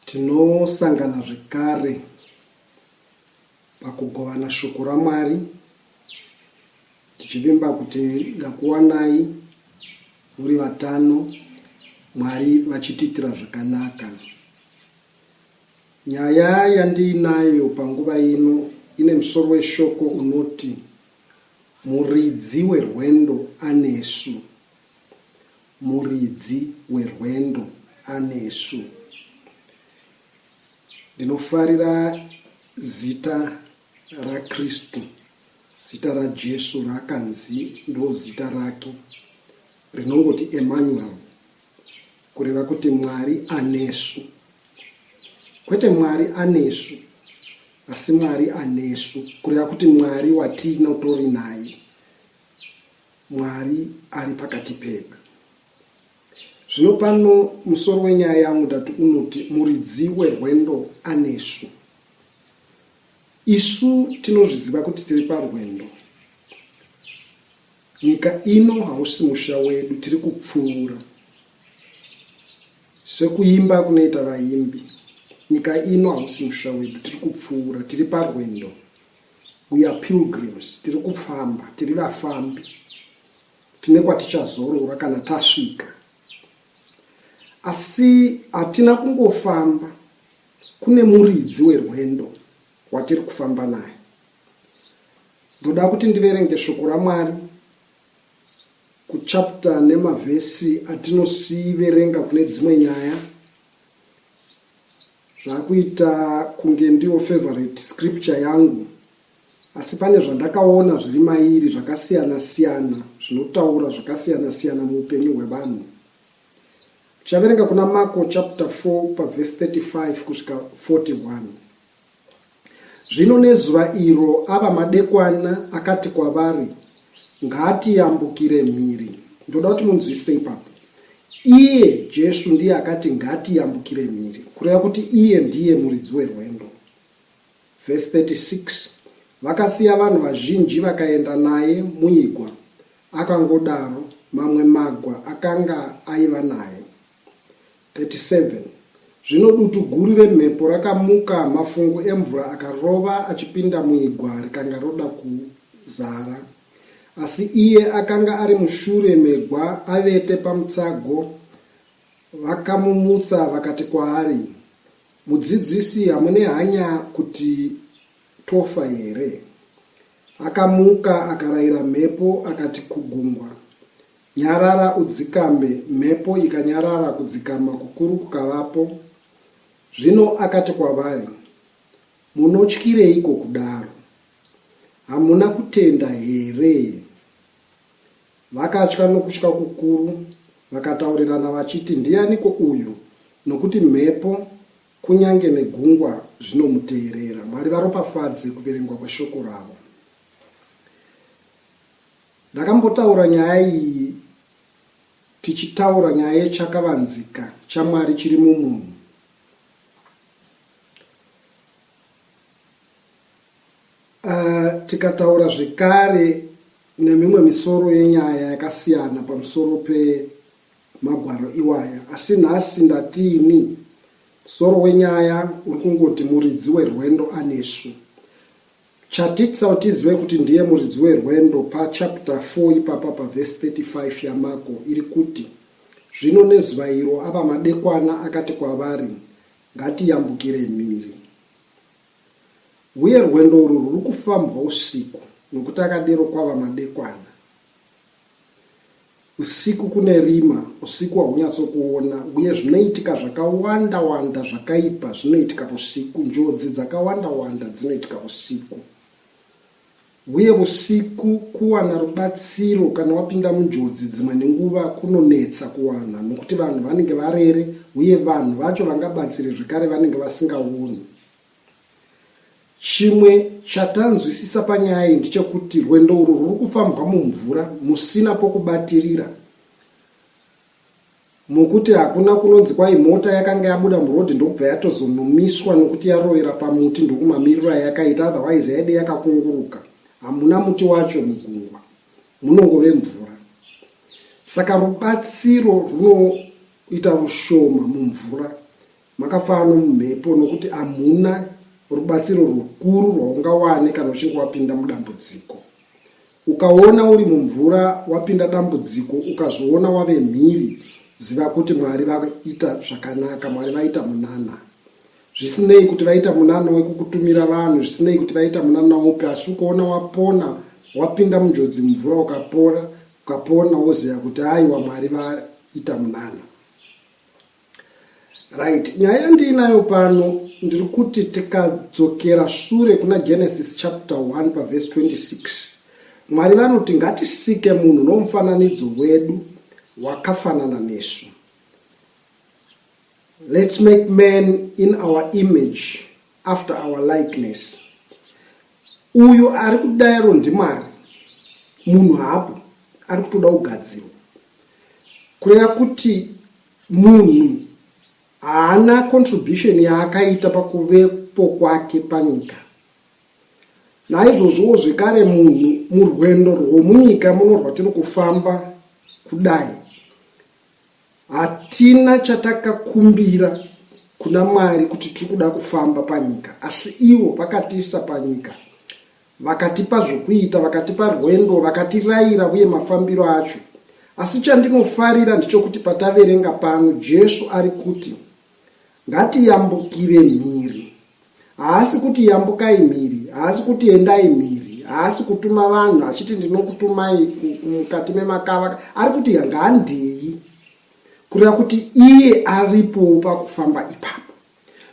Tinosangana zvekare pakugovana shoko raMwari tichivimba kuti ndakuwanai muri vatano Mwari vachitiitira zvakanaka. Nyaya yandiinayo panguva ino ine musoro weshoko unoti Muridzi werwendo anesu. Muridzi werwendo anesu. Ndinofarira zita raKristu, zita raJesu raakanzi ndozita rake, rinongoti Emmanuel, kureva kuti Mwari anesu. Kwete Mwari anesu, asi Mwari anesu, kureva kuti Mwari watinotori naye. Mwari ari pakati pedu. Zvino pano musoro wenyaya yangu ndati unoti muridzi werwendo anesu. Isu tinozviziva kuti tiri parwendo. Nyika ino hausi musha wedu, tiri kupfuura. Sekuimba kunoita vaimbi, nyika ino hausi musha wedu, tiri kupfuura, tiri parwendo. We are pilgrims, tiri kufamba, tiri vafambi. Tine kwatichazorora kana tasvika. Asi hatina kungofamba, kune muridzi werwendo watiri kufamba naye. Ndoda kuti ndiverenge shoko raMwari kuchapta nemavhesi atinosiverenga kune dzimwe nyaya. Zvakuita kunge ndiwo favorite scripture yangu asi pane zvandakaona zviri mairi zvakasiyana siyana zvinotaura zvakasiyana siyana muupenyu hwevanhu. Tichaverenga kuna Mako chapter 4 paverse 35 kusvika 41. Zvino nezuva iro ava madekwana akati kwavari, Ngatiyambukire mhiri. Ndoda kuti munzwisise ipapo. Iye Jesu ndiye akati ngatiyambukire mhiri, kureva kuti iye ndiye muridzi werwendo. Vhesi 36 Vakasiya vanhu vazhinji vakaenda naye muigwa, akangodaro, mamwe magwa akanga aiva naye. 37 zvino dutu guru remhepo rakamuka, mafungu emvura akarova achipinda muigwa rikanga roda kuzara. Asi iye akanga ari mushure megwa, avete pamutsago. Vakamumutsa vakati kwaari, Mudzidzisi, hamune hanya kuti tofa here? Akamuka akarayira mhepo akati kugungwa, Nyarara udzikambe Mhepo ikanyarara kudzikama kukuru kukavapo Zvino akati kwavari Munotyireiko kudaro? Hamuna kutenda here? Vakatya nokutya kukuru vakataurirana vachiti Ndianiko uyu nokuti mhepo kunyange negungwa zvinomuteerera? Mwari varopafadze kuverengwa kweshoko ravo. Ndakambotaura nyaya iyi tichitaura nyaya yechakavanzika chaMwari chiri mumunhu. Uh, tikataura zvekare nemimwe misoro yenyaya yakasiyana pamusoro pemagwaro iwaya asi nhasi ndatiini musoro wenyaya uri kungoti muridzi werwendo anesu Chatitsa kuti tizive kuti ndiye muridzi werwendo pachapter 4 ipapa pavhesi 35 yaMako iri kuti, Zvino nezuva iro ava madekwana akati kwavari, Ngatiyambukirei mhiri. Uye rwendo urwu rwuri kufambwa usiku, nokuti akadero kwava madekwana. Usiku kune rima, usiku haunyatsokuona uye zvinoitika zvakawanda wanda zvakaipa zvinoitika vusiku, njodzi dzakawanda wanda dzinoitika vusiku. Uye vusiku kuwana rubatsiro kana wapinda munjodzi dzimwe nenguva kunonetsa kuwana nokuti vanhu vanenge varere uye vanhu vacho vangabatsire zvekare vanenge vasingaoni. Chimwe chatanzwisisa panyaya iyi ndechekuti rwendo urwu rwuri kufambwa mumvura musina pokubatirira mokuti hakuna kunonzi kwai mota yakanga yabuda murodhi ndokubva yatozonomiswa nokuti yarovera pamuti ndokumamirira yakaita otherwise yaide yakakunguruka hamuna muti wacho mugungwa munongove mvura saka rubatsiro runoita rushoma mumvura Makafara nomumhepo nokuti hamuna rubatsiro rukuru rwaungawane kana uchinge wapinda mudambudziko. Ukaona uri mumvura wapinda dambudziko ukazviona wave mhiri, ziva kuti Mwari vaita zvakanaka, Mwari vaita munana. Zvisinei kuti vaita munana wekukutumira vanhu, zvisinei kuti vaita munana upi, asi ukaona wapona, wapinda munjodzi mumvura ukapora, ukapona woziva kuti aiwa Mwari vaita munana. Right, nyaya yandiinayo pano ndiri kuti tikadzokera shure kuna Genesis chapter 1 paverse 26 Mwari vanoti ngatisike munhu nomufananidzo wedu wakafanana nesu. Let's make man in our image after our likeness. Uyu ari kudaro ndimwari munhu hapo ari kutoda kugadzirwa kureva kuti Munhu haana contribution yaakaita pakuvepo kwake panyika. Naizvozvowo zvekare munhu murwendo rwomunyika muno rwatiri kufamba kudai, hatina chatakakumbira kuna Mwari kuti tiri kuda kufamba panyika, asi ivo vakatiisa panyika Vakatipa zvokuita, vakatipa rwendo, vakatiraira uye mafambiro acho. Asi chandinofarira ndichokuti pataverenga pano Jesu ari kuti, Ngatiyambukire mhiri. Haasi kuti yambukai mhiri, haasi kuti endai mhiri, haasi kutuma vanhu achiti ndinokutumai mukati memakava, ari kuti ngaandei, kureva kuti iye aripowo pakufamba ipapo.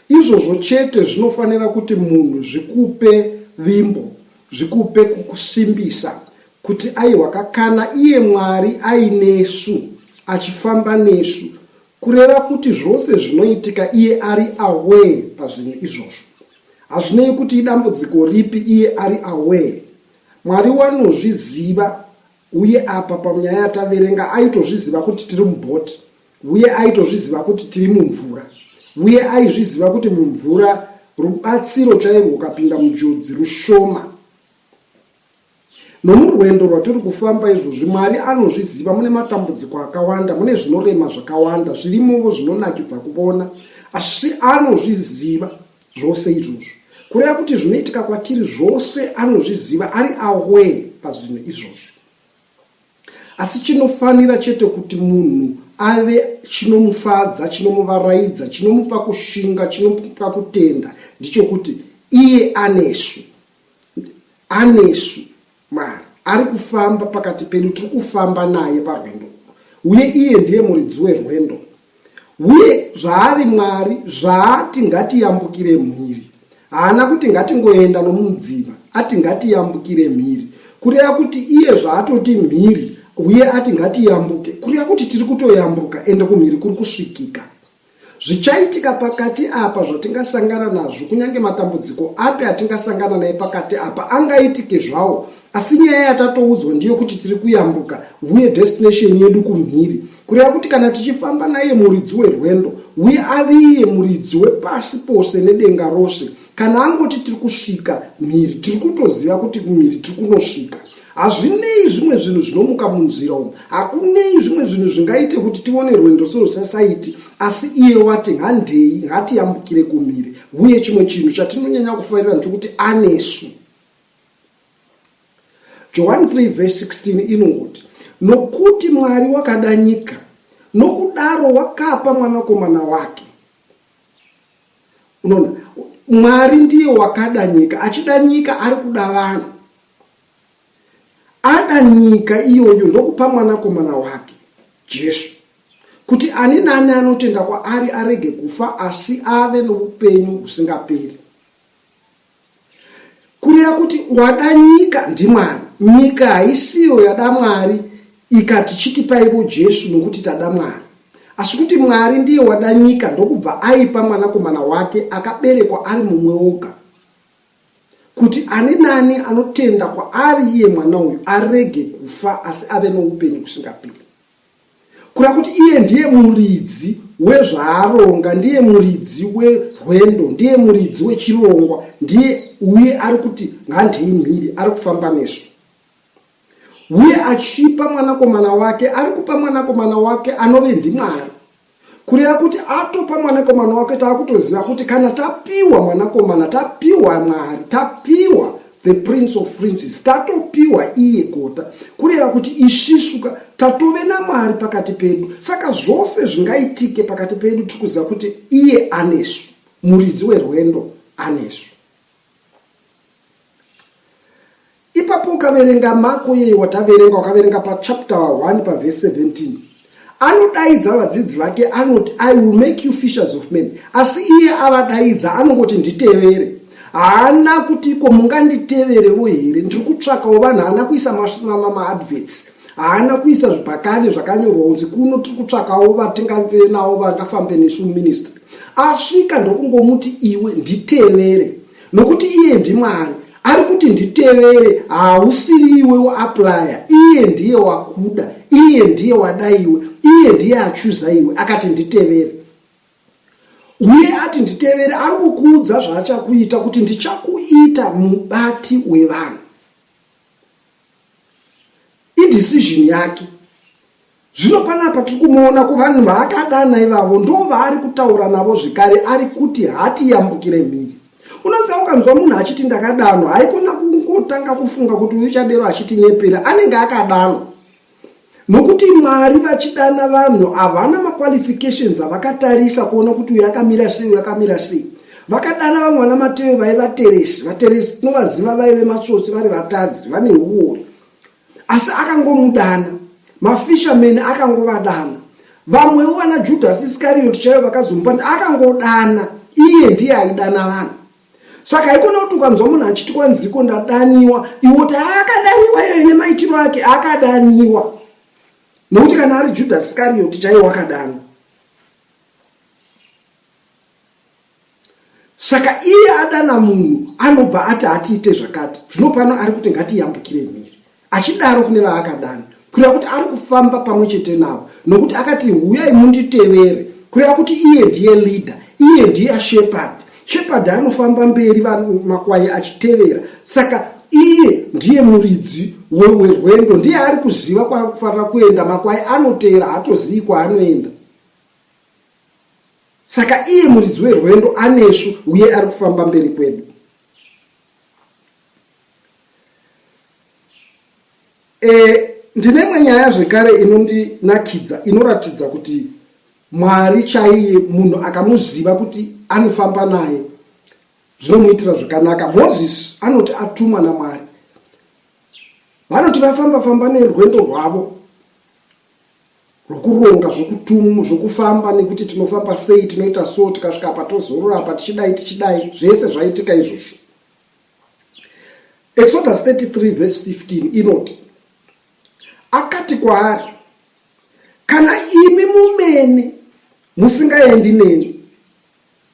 Izvozvo chete zvinofanira kuti munhu zvikupe vimbo, zvikupe kukusimbisa kuti aiwa ka kana iye Mwari ainesu, achifamba nesu, kureva kuti zvose zvinoitika iye ari aware pazvinhu izvozvo. Hazvinei kuti idambudziko ripi iye ari aware. Mwari wanozviziva Uye apa panyaya yataverenga aitozviziva kuti tiri muboat uye aitozviziva kuti tiri mumvura uye aizviziva kuti mumvura rubatsiro chairwo kapinda mujodzi rushoma nomurwendo rwatiri kufamba izvozvi mwari anozviziva mune matambudziko akawanda mune zvinorema zvakawanda zvirimovo zvinonakidza kuvona asi anozviziva Zvose izvozvo, kureva kuti zvinoitika kwatiri zvose, anozviziva, ari aware pazvinhu izvozvo. Asi chinofanira chete kuti munhu ave chinomufadza, chinomuvaraidza, chinomupa kushinga, chinomupa kutenda, ndichokuti iye anesu. Anesu. Mwari ari kufamba pakati pedu, tiri kufamba naye parwendo urwu, uye iye ndiye muridzi werwendo. Uye zvaari Mwari, zvaati ngatiyambukire mhiri, haana kuti ngatingoenda nomumudziva, ati ngatiyambukire mhiri, kureva kuti iye zvaatoti mhiri, uye ati ngatiyambuke, kureva kuti tiri kutoyambuka, ende kumhiri kuri kusvikika. Zvichaitika pakati apa zvatingasangana nazvo, kunyange matambudziko api atingasangana naye pakati apa angaitike zvawo, asi nyaya yatatoudzwa ndiyo kuti tiri kuyambuka uye destination yedu kumhiri, kureva kuti kana tichifamba naiye muridzi werwendo, uye ariiye muridzi wepasi pose nedenga rose, kana angoti tiri kusvika mhiri, tiri kutoziva kuti kumhiri tiri kunosvika. Hazvinei zvimwe zvinhu zvinomuka munzira umu, hakunei zvimwe zvinhu zvingaite kuti tione rwendo sorwusasaiti, asi iye wati, Handei, ngatiyambukire kumhiri. Uye chimwe chinhu chatinonyanya kufarira ndechokuti anesu. Johani 3 vhesi 16 inongoti, Nokuti Mwari wakada nyika, nokudaro wakapa mwanakomana wake. Unoona, Mwari ndiye wakada nyika, achida nyika ari kuda vanhu. Ada nyika iyoyo ndokupa Mwanakomana wake, Jesu, kuti ani naani anotenda kwaari arege kufa asi ave noupenyu husingaperi. Kureva kuti wada nyika ndiMwari. Nyika haisiyo yada Mwari ikati chitipaivo Jesu nokuti tada Mwari. Asi kuti Mwari ndiye wada nyika ndokubva aipa Mwanakomana wake akaberekwa ari mumwe oga. kuti ani nani anotenda kwaari iye mwana uyu arege kufa asi ave noupenyu kusingaperi kura kuti iye ndiye muridzi wezvaaronga ndiye muridzi werwendo ndiye muridzi wechirongwa ndiye uye ari kuti ngandei mhiri ari kufamba nezvo uye achipa mwanakomana wake ari kupa mwanakomana wake anove ndimwari kureva kuti atopa mwanakomana wake taakutoziva kuti kana tapiwa mwanakomana tapiwa mwari tapiwa the prince of princes tatopiwa iye gota kureva kuti isvisuka tatove namwari pakati pedu saka zvose zvingaitike pakati pedu tiri kuziva kuti iye anesu muridzi werwendo anesu Ipapo ukaverenga Mako iye wataverenga, wakaverenga pachapter 1 pavhesi 17 anodaidza vadzidzi vake anoti i will make you fishers of men asi iye avadaidza anongoti nditevere haana kuti iko munganditeverevo here ndiri kutsvakawo vanhu haana kuisa maadverts haana kuisa zvibhakani zvakanyorwa unzi kuno tiri kutsvakawo vatingave navo vangafambe nesu ministry asvika ndokungomuti iwe nditevere nokuti iye ndimwari ari kuti nditevere hausiri iwe uaplya iye ndiye wakuda iye ndiye wada iwe iye ndiye achuza iwe akati nditevere uye ati nditevere ari kukuudza zvaachakuita kuti ndichakuita mubati wevanhu Idecision yake. Zvino panapa tiri kumuona ko vanhu vaakadana ivavo ndo vaari kutaura navo zvekare ari kuti hati yambukire mhiri. Unoziva ukanzwa munhu achiti ndakadanwa haikona kungotanga kufunga kuti uyu chadero achitinyepera anenge akadanwa. Nokuti Mwari vachidana vanhu havana maqualifications avakatarisa kuona kuti uyu akamira sei uyu akamira sei. Vakadana vamwe vana Mateo vaiva teresi, vateresi tinovaziva vaive matsotsi vari vatadzi vane huori. Asi akangomudana, mafishermen akangovadana. Vamwewo vana Judas Iscariot chaivo vakazomupa akangodana, iye ndiye aidana vanhu. saka haikona kuti ukanzwa munhu achiti kwanziko ndadaniwa iwo ti aakadaniwa iyo ine maitiro ake akadaniwa nokuti kana ari judhas iskarioti chaiye wakadanwa saka iye adana munhu anobva ati hatiite zvakati zvino pano ari kuti ngatiyambukire mhiri achidaro kune vaakadana kureva kuti ari kufamba pamwe chete navo nokuti akati huyai munditevere kureva kuti iye ndiye leader iye ndiye shepherd shepherd anofamba mberi makwai achitevera saka iye ndiye muridzi werwendo ndiye ari kuziva kwakufanira kuenda makwai anotevera haatozivi kwaanoenda saka iye muridzi werwendo anesu uye ari kufamba mberi kwedu E, ndine imwe nyaya zvekare inondinakidza inoratidza kuti mwari chaiye munhu akamuziva kuti anofamba naye zvinomuitira zvakanaka mozisi anoti atumwa namwari vanoti vafamba famba nerwendo rwavo rwokuronga zvokutumu zvokufamba nekuti tinofamba sei tinoita so tikasvika apa tozorora apa tichidai tichidai zvese zvaitika izvozvo Exodus 33 verse 15 inoti akati kwaari kana imi mumene musingaendi neni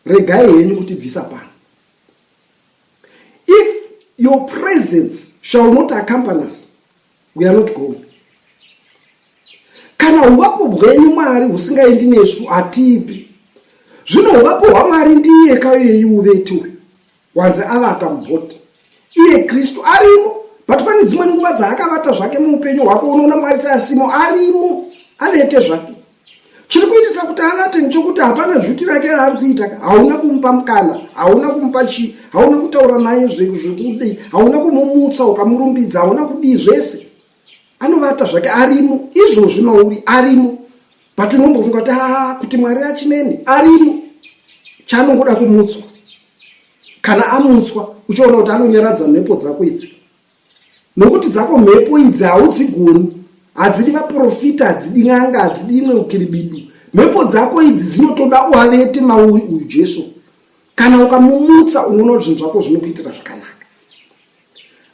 regai henyu kutibvisa pano if your presence shall not accompany us we are not going kana uvapo bwenyu mwari husingaendi nesu hatipi zvino uvapo hwamwari ndiye kayoyeyi uvetiwe Wanze avata muboat iye Kristu arimo but pane dzimwe nguva dzaakavata zvake muupenyu hwako unoona Mwari seasimo arimo avete zvake chiri kuitisa kuti avate ndichokuti hapana zhuti rake raari kuita hauna kumupa mukana hauna kumupa chii hauna kutaura naye zvekudei hauna kumumutsa ukamurumbidza hauna kudii zvese anovata zvake arimo izvo zvinouri arimo but unombofunga kuti haa kuti mwari achineni arimo chaanongoda kumutswa kana amutswa uchiona kuti anonyaradza mhepo dzako idzi nokuti dzako mhepo idzi haudzigoni hadzidi vaprofita hadzidi n'anga hadzidi imwe ukiribidu mhepo dzako idzi dzinotoda uavete mauri uyu jesu kana ukamumutsa unoona kuti zvinhu zvako zvinokuitira zvakanaka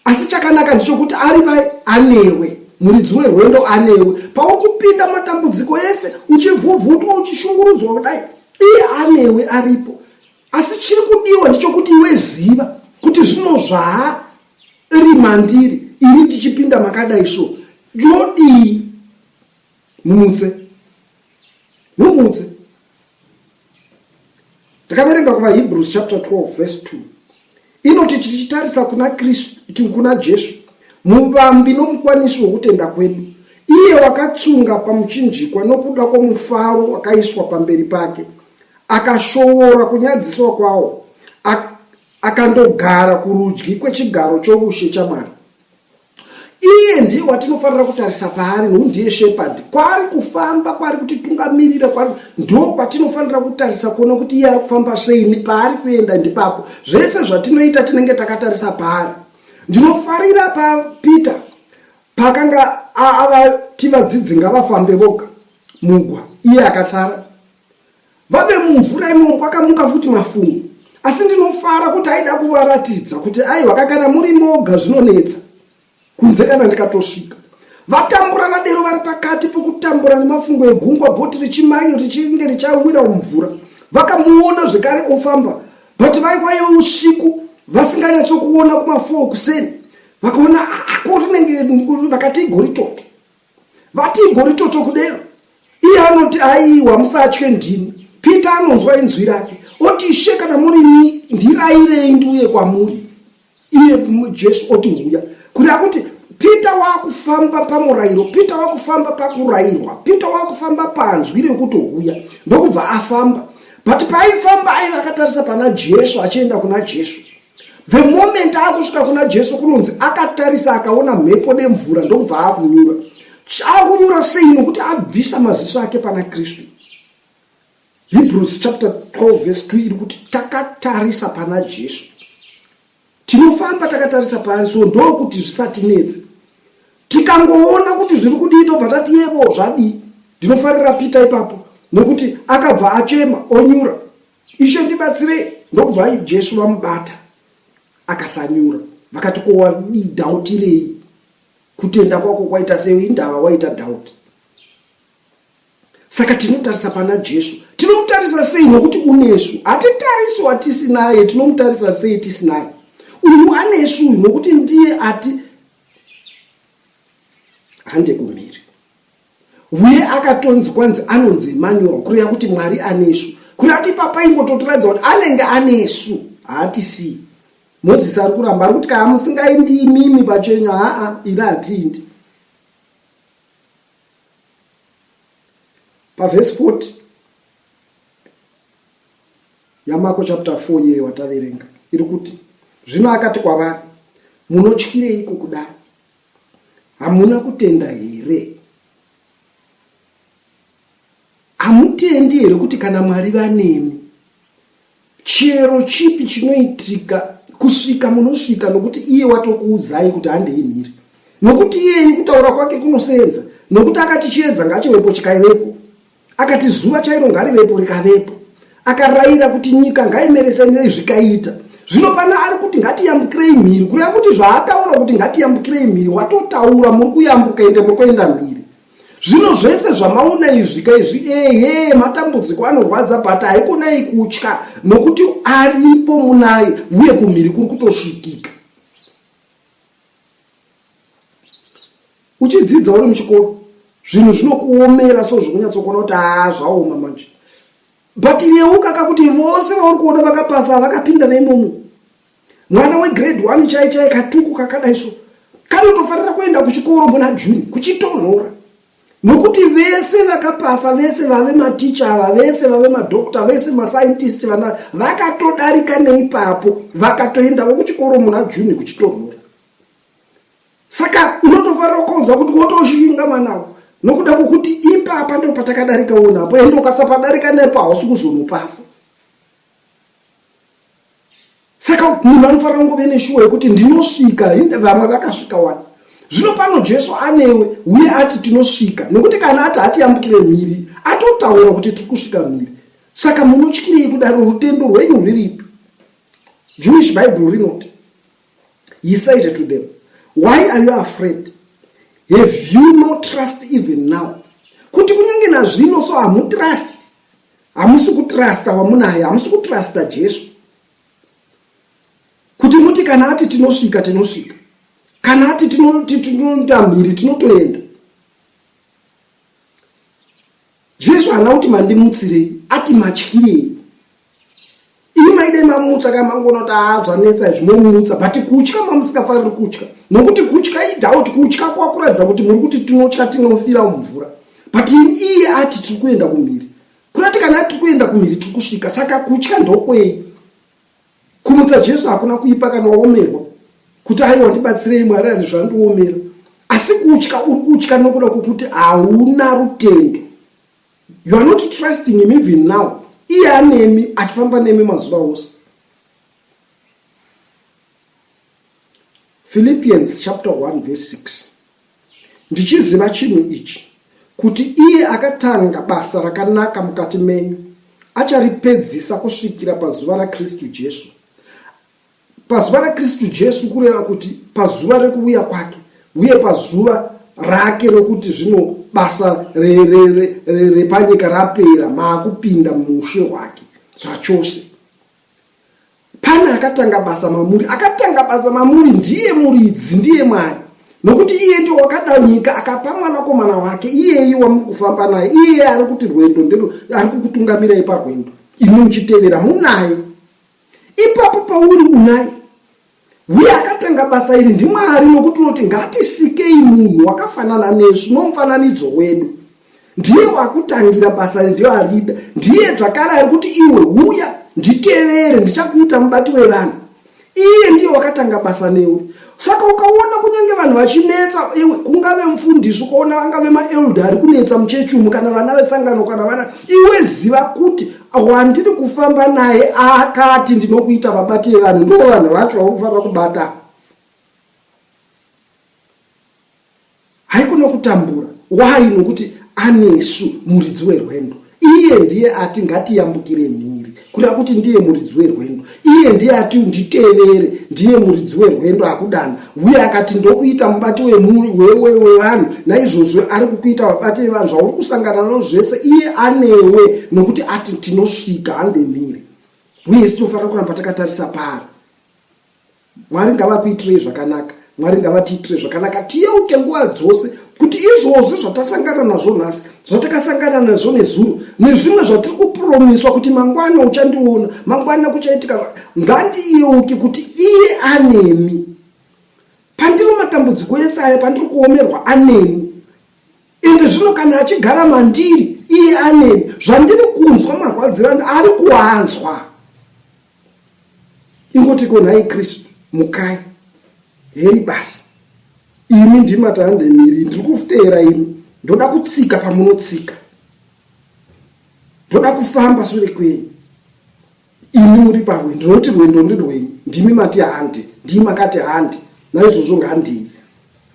asi chakanaka ndichokuti ari pai anewe muridzi werwendo anewe paukupinda matambudziko ese uchivhuvhutwa uchishungurudzwa kudai iye anewe aripo asi chiri kudiwa ndichokuti iwe ziva kuti zvino zvaa rimandiri ini tichipinda makadai so yodii mumutse mumutse takaverenga kuvahebrews chapter 12 verse 2 inoti tichitarisa kuna kristu kuna jesu muvambi nomukwanisi wokutenda kwedu iye wakatsunga pamuchinjikwa nokuda kwomufaro wakaiswa pamberi pake akashoora kunyadziswa kwawo akandogara kurudyi kwechigaro choushe chamwari Iye ndiye watinofanira kutarisa paari nokuti ndiye shepherd kwaari kufamba kwaari kutitungamirira kwaari ndo kwatinofanira kutarisa kuona kuti iye ari kufamba sei paari kuenda ndipapo zvese zvatinoita tinenge takatarisa paari ndinofarira papeter pakanga avati vadzidzi ngavafambe voga mugwa iye akatsara Vave mumvura imomo kwakamuka futi mafungu asi ndinofara kuti aida kuvaratidza kuti aiwa kakana muri moga zvinonetsa kunze kana ndikatosvika vatambura vadero vari pakati pokutambura nemafungo egungwa bhoti richimanyo richinge richawira mumvura vakamuona zvekare ofamba but vaiwa iwe usiku vasinganyatsokuona kumafoo kuseni vakaona ako rinenge vakati igori toto vati igori toto kudero iye anoti aiwa musatye ndini peter anonzwa inzwi rake oti ishe kana muri ni ndirairei ndiuye kwamuri iye jesu oti huya kuri akuti peter wakufamba pamurayiro peter wakufamba pakurayirwa peter wakufamba panzwi rekuti huya ndokubva afamba but paaifamba aiva akatarisa pana jesu achienda kuna jesu The moment akusvika kuna Jesu kunonzi akatarisa akaona mhepo nemvura ndokubva akunyura. Chakunyura sei nokuti abvisa maziso ake pana Kristu. Hebrews chapter 12 verse 2 iri kuti takatarisa pana Jesu. Tinofamba takatarisa paari so ndokuti zvisatinetse. Tikangoona kuti zviri kudii tobva tati yebo zvadii. Ndinofarira Peter ipapo nokuti akabva achema onyura. Ishe ndibatsirei. Ndokubva Jesu vamubata akasanyura vakati ko wadii dhautirei kutenda kwako kwaita sei indava waita dhauti saka tinotarisa pana jesu tinomutarisa sei nokuti unesu hatitarisi watisinaye tinomutarisa sei tisinaye uyu anesu uyu nokuti ndiye ati hande kumhiri Uye akatonzi kwanzi anonzi Emmanuel kureva kuti Mwari anesu. Kureva kuti ipapa ingototiratidza kuti anenge anesu haatisii. Moses ari kuramba ari kuti kana musingaindi imimi pachenyu haa iri hatiindi. Pavhesi 40 yaMako chapter 4 iyeyo wataverenga iri kuti zvino akati kwavari munotyireiko kudaro Hamuna kutenda here? Hamutendi here kuti kana Mwari vanemi chero chipi chinoitika kusvika munosvika nokuti iye watokuudzai kuti handei mhiri nokuti iyeye kutaura kwake kunosenza nokuti akati chiedza ngachivepo chikaivepo Akati zuva chairo ngarivepo rikavepo. Akaraira kuti nyika ngaimeresanirei zvikaita. Zvino pana ari kuti ngatiyambukirei mhiri kureva kuti zvaataura kuti ngatiyambukirei mhiri watotaura muri kuyambuka ende muri kuenda mhiri. Zvino zvese zvamaona izvi ka izvi ehe matambudziko anorwadza but haikonai kutya nokuti aripo munai uye kumhiri kuri kutosvikika. Uchidzidza uri muchikoro zvinhu zvinokuomera so zvikunyatsokuona kuti aa zvaoma manje but yeuka ka kuti vose vauri kuona vakapasa vakapinda neimomo mwana wegrade one chai chai katuku kakadai so kanotofanira kuenda kuchikoro muna june kuchitonhora nokuti vese vakapasa vese vave maticha ava vese vave madokta vese mascientist vana vakatodarika neipapo vakatoendavo kuchikoro muna june kuchitonhora saka unotofarira ukaunza kuti wotoshinga mwana avo nokuda kwokuti ipapa ndo patakadarika wonapo ende ukasapadarika nepo hausi kuzonopasa saka munhu anofanira kungove neshuwa yekuti ndinosvika vamwe vakasvika wani zvino pano jesu anewe uye ati tinosvika nokuti kana ati hatiyambukire mhiri atotaura kuti tiri kusvika mhiri saka munotyirei kudaro rutendo rwenyu rwuripi jewish bible rinoti He said to them, Why are you afraid? Have you no trust even now? Kuti kunyange nazvino so hamutrust. Hamusi kutrusta wamunaye, hamusi kutrusta Jesu. Kuti muti kana ati tinosvika tinosvika. Kana ati tinotamhiri tinotoenda. Jesu haana kuti mandimutsirei, ati matyirei. Imi maidai mamutsa kana mangoona kuti haazvanetsa izvi momutsa, but kutya mamusingafariri kutya. Nokuti kutya idoubt, kutya kwakuratidza kuti muri kuti tinotya tinofira mumvura. But iye ati tiri kuenda kumhiri. Kurati kana tiri kuenda kumhiri tiri kusvika, saka kutya ndokwei? Kumutsa Jesu hakuna kuipa kana waomerwa kuti aiwa ndibatsirei Mwari ani zvandiomera. Asi kutya uri kutya nokuda kwokuti hauna rutendo. You are not trusting him even now. Iye anemi achifamba nemi mazuva ose. Philippians chapter 1 verse 6. Ndichiziva chinhu ichi, kuti iye akatanga basa rakanaka mukati menyu acharipedzisa kusvikira pazuva raKristu Jesu. Pazuva raKristu Jesu kureva kuti pazuva rekuuya kwake, uye pazuva rake rokuti zvino basa repanyika rapera, maakupinda muushe hwake zvachose. Pane akatanga basa mamuri, akatanga basa mamuri ndiye muridzi, ndiye Mwari. Nokuti iye ndiye wakada nyika akapa mwanakomana wake iyeyi wamuri kufamba naye, iye ari kuti rwendo ndero ari kukutungamirai parwendo. Imi muchitevera munaye. Ipapo pauri unaye. Uye akatanga basa iri ndiMwari nokuti unoti ngatisikei munhu wakafanana nesu nomufananidzo wedu. ndiye wakutangira basa ndiyo arida ndiye zvakare ari kuti iwe huya nditevere ndichakuita mubati wevanhu iye ndiye wakatanga basa newe saka ukaona kunyange vanhu vachinetsa iwe kungave mufundisi ukaona vangave maelda ari kunetsa muchechi umu kana vana vesangano kana vana iwe ziva kuti wandiri kufamba naye akati ndinokuita vabati vevanhu ndo vanhu vacho vakufanira kubata Haikona kutambura. Why? Nokuti anesu muridzi werwendo. Iye ndiye ati ngatiyambukire mhiri. Kureva kuti ndiye muridzi werwendo. Iye ndiye ati nditevere. Ndiye muridzi werwendo akudana. Uye akati ndokuita mubati wevanhu. Naizvozvo ari kukuita vabati vevanhu zvauri kusangana nazvo zvese. Iye anewe nokuti ati tinosvika hande mhiri. Uye isu tinofanira kuramba takatarisa paari. Mwari ngavakuitirei zvakanaka. Mwari ngavatiitire zvakanaka tiyeuke nguva dzose kuti izvozvo zvatasangana nazvo nhasi zvatakasangana nazvo nezuro nezvimwe zvatiri kupromiswa kuti mangwana uchandiona mangwana kuchaitika ngandiyeuke kuti iye anemi pandiri matambudziko ese aya pandiri kuomerwa anemi ende zvino kana achigara mandiri iye anemi zvandiri kunzwa marwadziro ari kuanzwa ingoti ko nhai kristu mukai hei basi imi ndimata handemiri ndiri kuteera imi ndoda kutsika pamunotsika ndoda kufamba sure kwenyu imi muri parwe ndinoti rwendo ndirwenyu ndimi mati handi ndii makati handi naizvozvo ngandii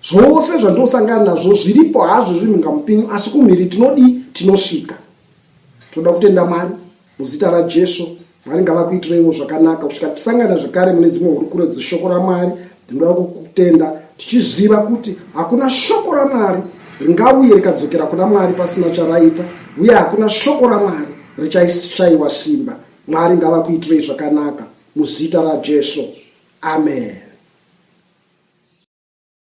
zvose zvandosangana nazvo zviripo hazvo zviri mungamupinyu asi kumhiri tinodii tinosvika tinoda kutenda mwari Muzita raJesu, Mwari ngavakuitireiwo zvakanaka kusvika tisangana zvekare mune dzimwe hurukuro dzeshoko raMwari. Ndinoda kukutenda tichiziva kuti hakuna shoko raMwari ringauye rikadzokera kuna Mwari pasina charaita, uye hakuna shoko raMwari richashaiwa simba. Mwari ngavakuitirei zvakanaka muzita raJesu. Amen.